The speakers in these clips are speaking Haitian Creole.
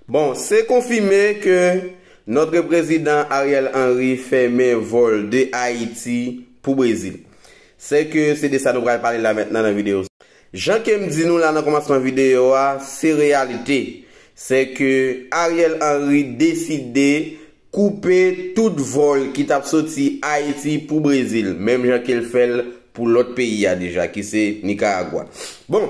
Bon, se konfime ke notre prezidan Ariel Henry fèmen vol de Ayiti pou Brezil. Se ke se de sa nou pral pale la mentnan nan video sa. Jan ke m di nou la nan komansman video a, se reyalite. Se ke Ariel Henry deside koupe tout vol ki tap soti Ayiti pou Brezil, menm jan ke l fè l pou lot peyi a deja ki se Nicaragua. Bon!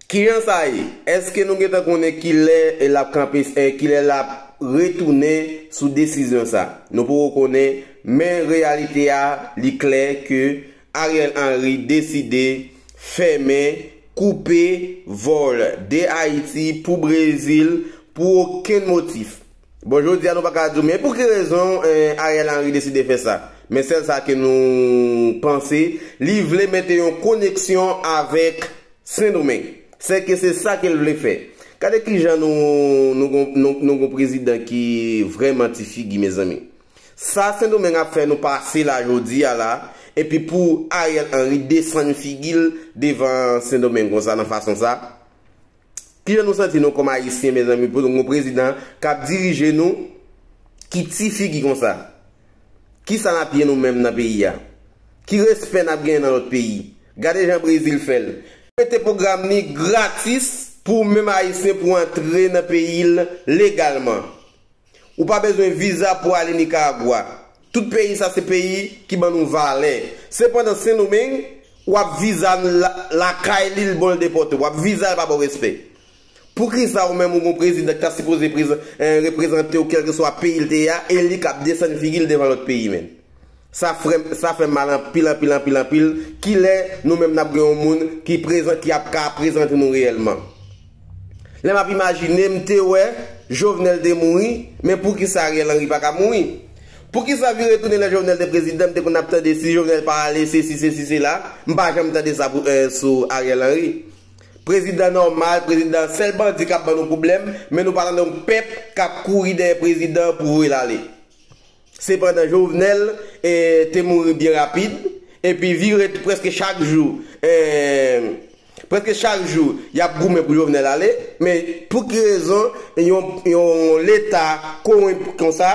Kijan sa ye? Eske nou gentan konnen kilè lap kanpe kilè lap retounen sou desizyon sa? Nou poko konnen men reyalite a li klè ke Ariel Henry deside fèmen, koupe, vol de Ayiti pou Brezil pou okenn motif. Bon jodi a nou paka di w men pouki rezon Ariel Henry deside fè sa. Men sèl sa ke nou panse, li vle mete yon koneksyon avèk Sendomeng. Sèke se sa ke l vle fè. Gade kijan nou gon prezidan ki vrèman ti figi mezanmi. Sa Sendomeng ap fè nou pase la jodi a la, epi pou Ariel Henry desann figi l devan Sendomeng konsa nan fason sa, Kijan nou santi nou kòm Ayisyen mezanmi pou nou gen yon prezidan k ap dirije nou ki ti figi konsa? Kisa n ap ye nou menm nan peyi a? Ki respè n ap genyen nan lòt peyi? Gade jan Brezil fè l. Mete pwogram li gratis pou ou menm Ayisyen pou antre nan peyi l legalman. Ou pa bezwen viza pou ale Nicaragua. Tout peyi sa se peyi ki ban nou valè. Sepandan Sendomeng, ou ap viza l lakay li l bon l depòte w. Ap viza l pa ba w respè. Poukisa ou menm ou gon prezidan ki ta sipoze reprezante w kèlkeswa peyi l te ye a e li k ap desann figi l devan lòt peyi menn? Sa frèm, sa fè mal anpil anpil anpil anpil. Kilè nou menm n ap gen yon moun ki prezan, ki ap ka prezante nou reyèlman? Lè map imajine m te wè Jovenel te mouri men poukisa Ariel Henry paka mouri? Poukisa vire tounen lè Jovenel te prezidan m te konn ap tande si Jovenel pa ale sesi sesi sela m pa janm tande sa pou eh sou Ariel Henry prezidan nòmal prezidan sèl bandi kap ban nou pwoblèm men nou pa tande yon pèp kap kouri dèyè prezidan pou voye l ale sepandan Jovenel eh te mouri byen rapid epi vire prèske chak jou eh. Preske chak jou yap goumen pou Jovenel ale, men pou ki rezon yon leta konwenp konsa,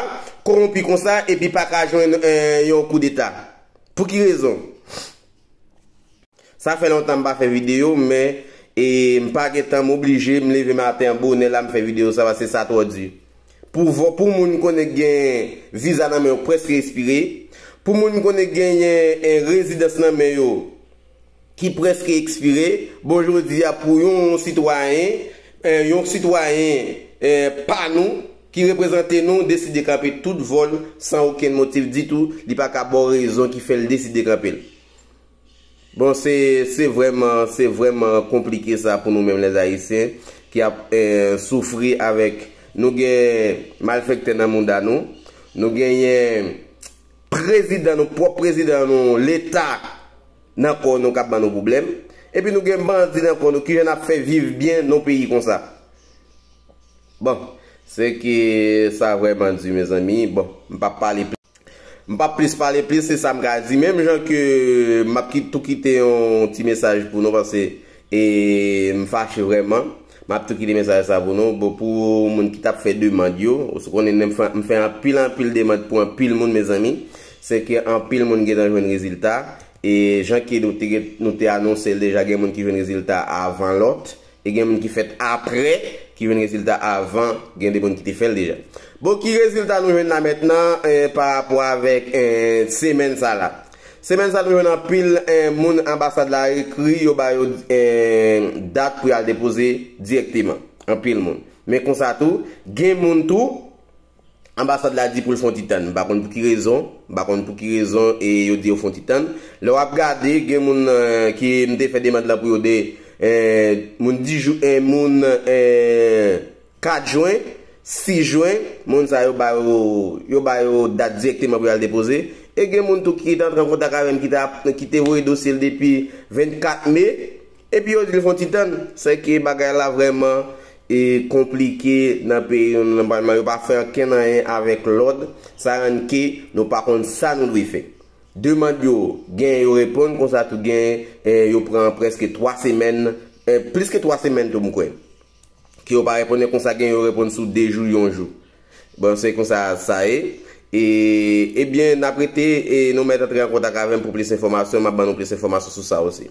konwonpi konsa epi pa ka jwenn yon kou deta? Pou ki rezon? Sa fè lontan m pa fè video men e m pa gen tan m oblije m leve maten an bonè la m fè video sa paske sa twò di. Pou moun konnen k gen viza nan men yo preske espire, pou moun konnen k genyen rezidans nan men yo, ki prèske ekspire, bon jodi a pou yon sitwayen, yon sitwayen pa nou, ki reprezante nou, deside kanpe tout vòl san okenn motif ditou, li pa ka ba w rezon ki fè l deside kanpe l. Bon se, se vrèman, se vrèman konplike sa pou nou menm lè Ayisyen ki ap soufri avèk, nou gen malfèktè nan mouda nou, nou genyen. Prezidan nou pwòp prezidan nou leta nan kò nou kap ban nou pwoblèm epi nou gen bandi nan kò nou kijan nap fè viv byen non peyi konsa bon se ke sa vrèman di mezanmi bon m pap pale plis m pap plis pale plis se sam ka di menm jan ke map tou kite yon ti mesaj pou nou paske e m fache vrèman. Map tou kite mesaj sa pou nou bon pou moun ki tap fè demand yo ou sou konnen m fè anpil anpil demand pou anpil moun mezanmi se ke anpil moun gentan jwenn rezilta e jan ke nou te nou te anonsel deja gen moun ki jwenn rezilta avan lòt e gen moun ki fèt aprè ki jwenn rezilta avan gen de moun ki te fèl deja bon ki rezilta nou jwenn la mètnan pa rapò avèk semenn sa la Semèn sa nou jwenn anpil moun anbasad la ekri yo ba yo dat pou y al depoze dirèkteman. Anpil moun. Men konsa tou, gen moun tou, anbasad la di pou l fon ti tann. M pa konn pou ki rezon, m pa konn pou ki rezon e yo di yo fon ti tann. Lè w ap gade, gen moun ki m te fè demand lan pou yo de moun di jou, moun 4 jwen, 6 jwen, moun sa yo ba yo yo ba yo dat dirèkteman pou y al depoze. E gen moun tou ki te antre an kontak avè m ki ta ki te voye dosye l depi 24 me, epi yo di l fè yon ti tann. Sèke bagay la vrèman e konplike nan peyi nou nan palman yo pa fè ankenn anyen avèk lòd, sa rann ke nou pa konn sa nou dwe fè. Demand yo, genyen yo reponn konsa tou genyen yo pran prèske 3 semèn, plis ke 3 semèn tou m kwè. Ke yo pa reponn e konsa gen yo reponn sou 2 jou yon jou. Bon se konsa sa ye. E ebyen nap rete e nou mèt antre an kontak avèm pou plis enfòmasyon map ban nou plis enfòmasyon sou sa osi.